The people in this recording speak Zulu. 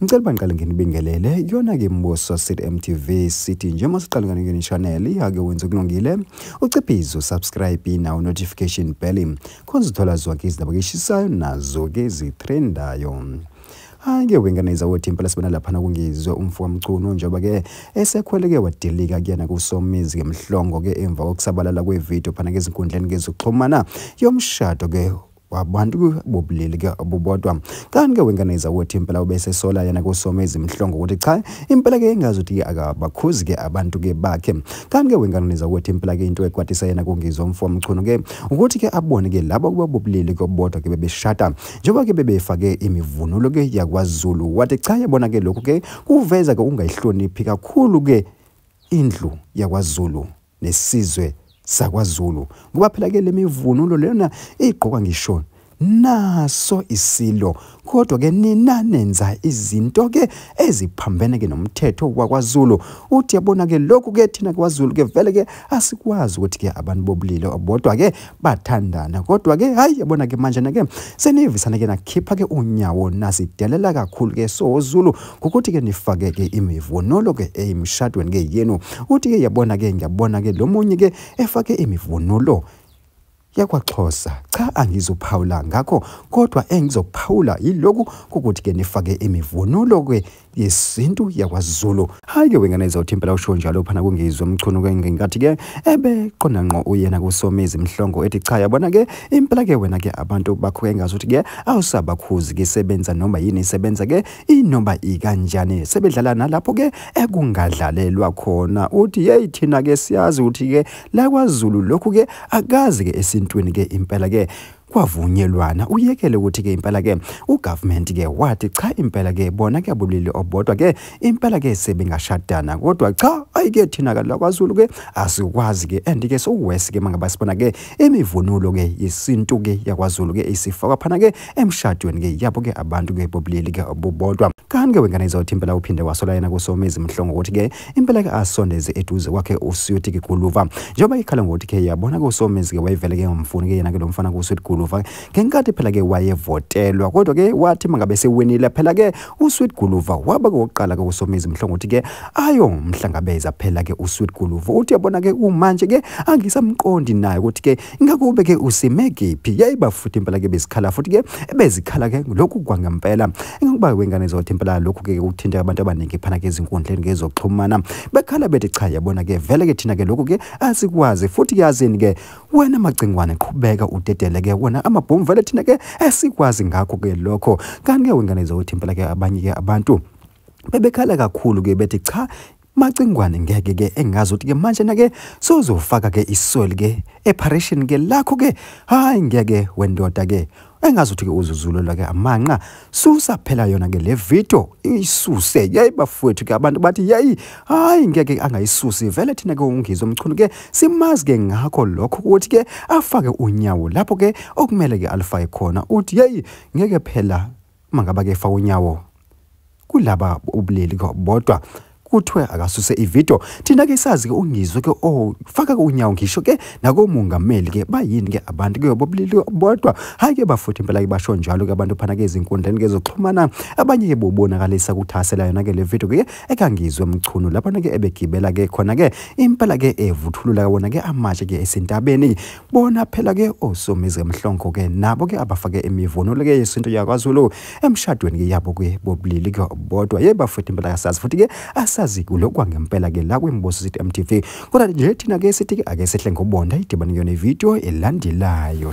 Ngicela uba ngiqale nginibingelele yona-ke mbuso sithi mtv sithi njengoba siqale nganingeni channel ake wenze okulungile uciphize usubscribe nawo notification bell khona uzithola zonke izindaba keshisayo nazo-ke zithrendayo hhayi-ke wengane izawothi impela sibona laphana kungizwe umfo kamcuno njengoba-ke esekhweleke wadilika kuyena kusomizi-ke mhlongo-ke emva kokusabalala kwevidiyo phana-ke ezinkundleni-ke zokuxhumana yomshado-ke wabantu bobulili ke obubodwa kanti ke wenganeza ukuthi impela ubesesola yena kusome izimhlongo ukuthi cha impela ke engazi ukuthi akabakhuzi ke abantu ke bakhe kanti ke wenganeza ukuthi impela ke into ekwatisa yena kungizwa umfo mchunu ke ukuthi ke abone ke labo kuba bobulili ke obodwa ke bebeshata njengoba ke bebefake imivunulo ke yakwaZulu wathi cha yabona ke lokho ke kuveza ke ungayihloniphi kakhulu ke indlu yakwaZulu nesizwe sakwaZulu ngoba phela ke lemivunulo lena igqokwa ngisho naso isilo kodwa ke nina nenza izinto ke eziphambene ke nomthetho wakwaZulu uthi yabona ke lokhu ke thina kwaZulu ke vele ke asikwazi ukuthi ke abantu bobulilo bodwa ke bathandana kodwa ke hayi yabona ke manje nake senivisana ke nakhipha ke unyawo nasidelela kakhulu ke so Zulu ngokuthi ke nifake ke imivunulo ke emshadweni ke yenu uthi ke yabona ke ngiyabona ke lomunye ke efake imivunulo yakwaXhosa cha angizophawula ngakho kodwa engizokuphawula yiloku ukuthi ke nifake imivunulo ke yesintu yakwaZulu hayi ke wengane izawuthi impela usho njalo phana kungizwe umchunu ke ngenkathi ke ebe qonda ngqo uyena kusomizi mhlongo ethi cha yabona ke impela ke wena ke abantu bakho ke ngazuthi ke awusabakhuzi ke sebenza noma yini isebenza ke inoma ikanjani sebedlala nalapho ke ekungadlalelwa khona uthi hey thina ke siyazi uthi ke la kwaZulu lokhu ke akazi ke esintwini ke impela ke kwavunyelwana uyekele ukuthi ke impela ke ugovernment ke wathi cha impela ke bona kuyabulili obodwa ke impela ke sebengashadana kodwa cha ayike thina ke lakwaZulu ke asikwazi ke and ke sokuwesi ke mangaba sibona ke imivunulo ke yesintu ke yakwaZulu ke isifakwa phana ke emshadweni ke yabo ke abantu ke bobulili ke obubodwa kanti ke wengane izawuthi impela uphinde wasola yena kusomizi mhlongo ukuthi ke impela ke asondeze eduze kwakhe uSweet Guluva njengoba ikhala ngokuthi ke yabona ke uSomezi ke wayevele ke ngamfuni ke yena ke lomfana kuSweet Guluva ngenkathi phela ke wayevotelwa kodwa ke wathi mangabe sewinile phela ke uSweet Guluva waba kokuqala ke uSomezi mhlongothi ke ayo mhlangabeza phela ke uSweet Guluva uthi yabona ke umanje ke angisamqondi naye ukuthi ke ngakube ke usime kephi yayiba futhi impela ke bezikhala futhi ke bezikhala ke lokhu kwangempela ngokuba wengane zothi impela lokhu ke uthinta abantu abaningi phana ke izinkundleni ngezoxhumana bekhala bethi cha yabona ke vele ke thina ke lokhu ke asikwazi futhi yazini ke wena macingwane qhubeka udedele ke wona amabhomu vele thina ke esikwazi ngakho ke lokho kanti ke wengane zothi impela ke abanye ke abantu bebekhala kakhulu ke bethi cha Macingwane ngeke ke engazi ukuthi ke manje nake sozofaka ke iswel ke eparation ke lakho ke hayi ngeke wendoda ke engazi ukuthi ke uzuzulelwa ke amanqa susa phela yona ke le video isuse yayi bafowethu ke abantu bathi yayi hayi ngeke angayisusi vele thina ke ungizwe umchunu ke simazi ke ngakho lokho ukuthi ke afake unyawo lapho ke okumele ke alifake khona uthi yayi ngeke phela uma ngaba kefa unyawo kulaba ubulili bodwa kuthiwe akasuse ivideo thina ke sazi ke ungizwe ke oh faka ke unyawo ngisho ke nakomongameli ke bayini ke abantu ke bobulili bodwa hayi ke bafuthi impela ke basho njalo ke abantu phana ke izinkundleni ke zoxhumana abanye ke bobonakalisa kuthasela yona ke le video ke ekangizwe mchunu lapho ke ebegibela ke khona ke impela ke evuthulula wona ke amatshe ke esintabeni bona phela ke osomizi emhlongo ke nabo ke abafake imivunulo ke yesintu yakwaZulu emshadweni ke yabo ke bobulili ke bodwa ye bafethu impela kasazi futhi ke asazi kulokwa ngempela ke la kwimboso sithi MTV kodwa nje thina ke sithi ke ake sehle ngobonda idibane yona ivideo elandelayo